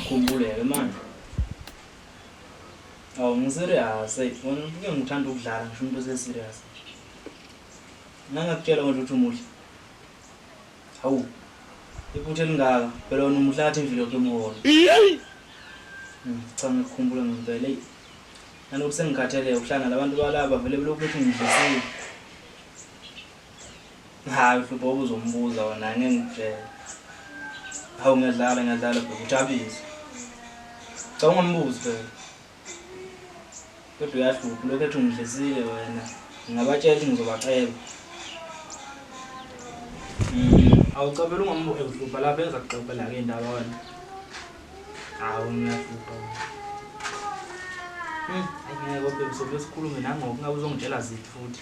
Khumbuleke manje. Awu ngiserious hey, wena ubuke ngithanda ukudlala ngisho umuntu oseserious. Ngangakutshela manje ukuthi umuhle. Hawu. Iphutha elingaka, phela wena umuhle ngathi imvilo yakho emholo. Hmm, Cha ngikukhumbula ngempela. Hey. Nanokuthi sengikhathele ukuhlangana abantu balaba vele belokhu bethi ngidlisile. Hayi uhlupho ubuzombuza wona ngeke ngikutshela. Hawu ngiyadlala ngiyadlala bhuti ujabulise. Cha ungambuzi phela. Kodwa uyahlupha lokho ethi ungidlisile wena. Ngingabatshela ukuthi ngizobacela. Mm, awucabela ungambuzi ehlupha lapha enza kuxoxela ke indaba wena. Hawu ngiyahlupha. Mm, ayike kodwa bese besikhulume nangoku ngabe uzongitshela ziphi futhi.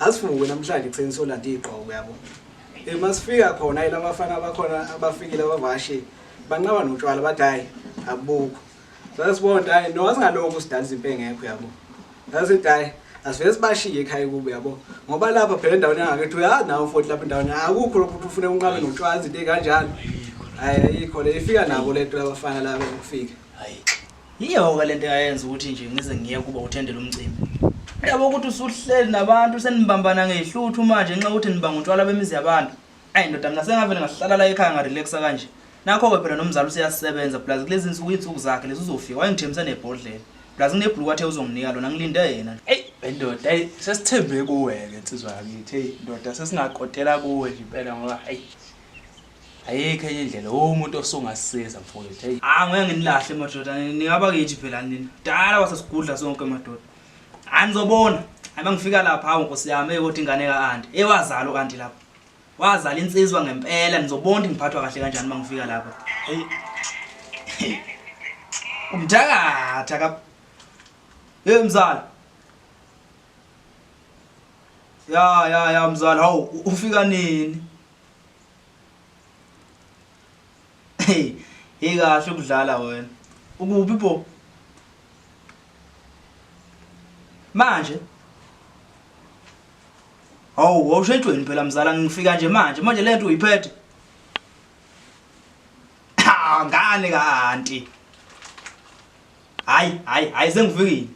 Asivuke namhlanje ekuseni solanda igqoko yabo. Eh masifika khona yila bafana abakhona abafikile abavashi banqaba notshwala bathi hayi abukho. Sasibona hayi no asingaloko sidalisa impe ngekho yabo. Sasithi hayi asivele sibashiye ekhaya kubo yabo ngoba lapha phela endaweni yangakethi uyazi nawo futhi lapha endaweni akukho lokhu ukuthi ufune unqabe notshwala izinto ey'kanjalo hayi ayikho le ifika nabo le nto labafana laba ukufika Yiyo-ke le nto eyayenza ukuthi nje ngize ngiye kuba uthendela umcimbi. Yabo ukuthi usuhleli nabantu senibambana ngehluthu manje nxa ukuthi nibanga utshwala bemizi yabantu. Ayi ndoda mina sengavele ngahlala la ekhaya ngarelaxa kanje. Nakho-ke phela nomzali useyasebenza plus kulezi nsuku iy'nsuku zakhe lezi uzofika wayengithembisa nebhodlela. Plus nginebhuluku athe uzonginika lona ngilinde yena nje. Eyi bendoda eyi sesithembe kuwe-ke nsizwa yakithi eyi ndoda sesingakotela kuwe nje impela ngoba eyi ayikho enye indlela umuntu osungasiza mfowethu hey ah ngeke nginilahle madoda ningaba kithi phela nina dala wasesigudla sonke madoda hayi nizobona hayi mangifika lapha hawu nkosi yami eyodwa ingane kaanti ewazalo kanti lapha wazala insizwa ngempela nizobona ngiphathwa kahle kanjani mangifika lapha hey umthakatha ka hey mzala ya ya ya mzala hawu ufika nini Hey, hey kahle ukudlala wena. Ukuphi bo? Manje Hawu, wawushejweni phela mzala ngifika nje manje. Manje lento uyiphethe. Ha, ngane kanti. Hayi, hayi, hayi sengifikile.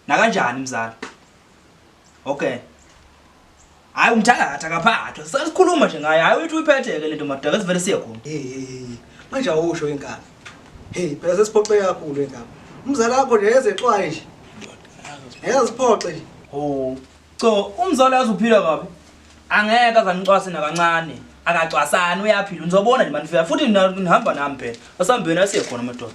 Nakanjani mzala? Okay. Hayi umthakathi akaphathwa. Sasikhuluma nje ngaye. Hayi uyithi uyiphethe ke lento madaka sivele siye khona. Hey hey hey. Manje awusho inkaba. Hey phela sesiphoxeke kakhulu inkaba. Umzala wakho nje ezexwaye nje. Eziphoxe nje. Oh. Cho umzala yazi uphila kabi. Angeke azanicwase nakancane. Akacwasani uyaphila. Nizobona nje manifika futhi nihamba nami phela. Asambeni asiye khona madoda.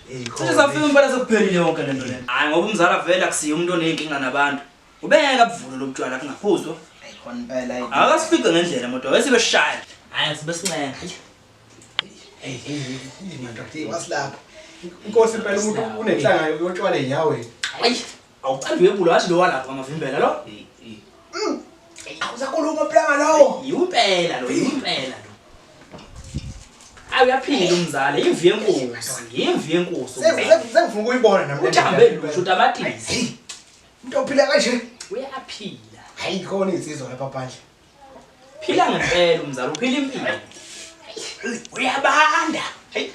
Cishe safika impela sekuphelile yonke lento le. Hayi ngoba umzala vele akusiye umuntu oneyinkinga nabantu. Ubengeke abuvule lobutshwala kungaphuzwa. Ayikhona impela ayi. Akasifice ngendlela moto wesibe shaya. Hayi sibe sincenga. Hey, hey, hey, mandoda, wasilapha. Inkosi impela umuntu unenhlanga yotshwala eyaweni. Hayi. Awucela uyebula wathi lo walapha ngamavimbela lo. Mm. Awusakhuluma planga lawo. Yimpela lo, yimpela lo. Awu uyaphila umzali, imvi yenkosi, imvi yenkosi. Sengifuna ukuyibona nami. Uthambe lusho utamatisi. Umuntu ophila kanje uyaphila. Hayi khona insizwa lapha phandle. Phila ngempela umzali, uphila impilo. Uyabanda. Hey.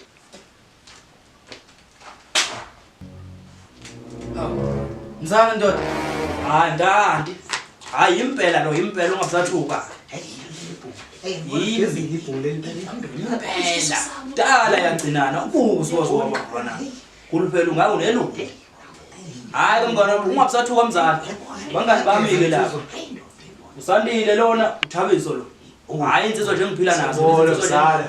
Mzala ndoda. Hayi ndandi. Hayi impela lo impela ungabusathuka. Yini ibhule impela. Dala yagcinana ubuzo wazoma khona. Kuluphela ungaku neluku. Hayi mngana ungabusathuka mzala. Bangani bami ke lapho. Usandile lona uthabiso lo. Hayi insizwa nje ngiphila nazo. Insizwa nje.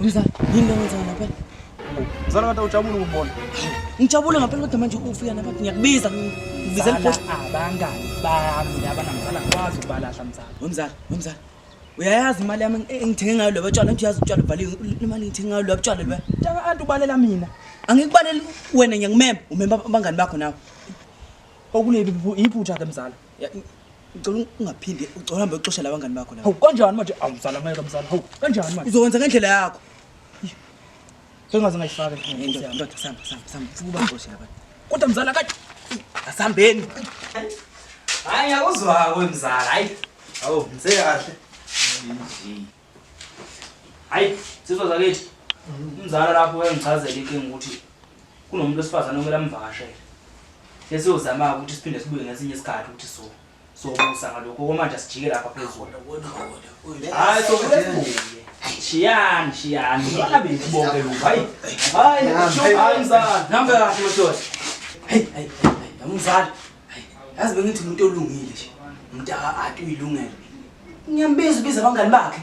Mzala, yini lo wenzana lapha? Mzala kade ujabule ukubona. Ngijabule ngempela kodwa manje ufika lapha ngiyakubiza. Ngibizela ipost abangani bami laba namzala kwazi ubalahla mzala. Wemzala, wemzala. Uyayazi imali yami engithenge ngayo lobo tshwala, ngithi uyazi utshwala ubhaliwe imali ngithenge ngayo lobo tshwala lobo. Tshaka antu ubalela mina. Angikubaleli wena ngiyakmema, umema abangani bakho nawe. Okuleli iphutha ke mzala. ngicela ungaphinde uhambe uxosha la bangani bakho la hawu kanjani manje awu mzala ngeke mzala hawu kanjani manje uzokwenza ngendlela yakho sengaze ngayifaka ndoda sihamba sihamba sihamba futhi uba ngixoshe la bantu kodwa mzala kade asihambeni hayi ngiyakuzwa-ko mzala hayi awu ngise kahle hayi sizwa zakithi umzala lapho wayengichazela inkinga ukuthi kunomuntu wesifazane okumele amvakashele lesiyozama-ke ukuthi siphinde sibuye ngesinye isikhathi ukuthi so sokusa ngalokho komanje sijike lapha phezulu hayi sokuke sibuye shiyani shiyani bana bethu bonke lokhu hayi hayi hayi mzala nihamba kahle madoda hayi hayi hayi mzala yazi bengithi umuntu olungile nje umntaka ati uyilungele ngiyambiza ubiza abangani bakhe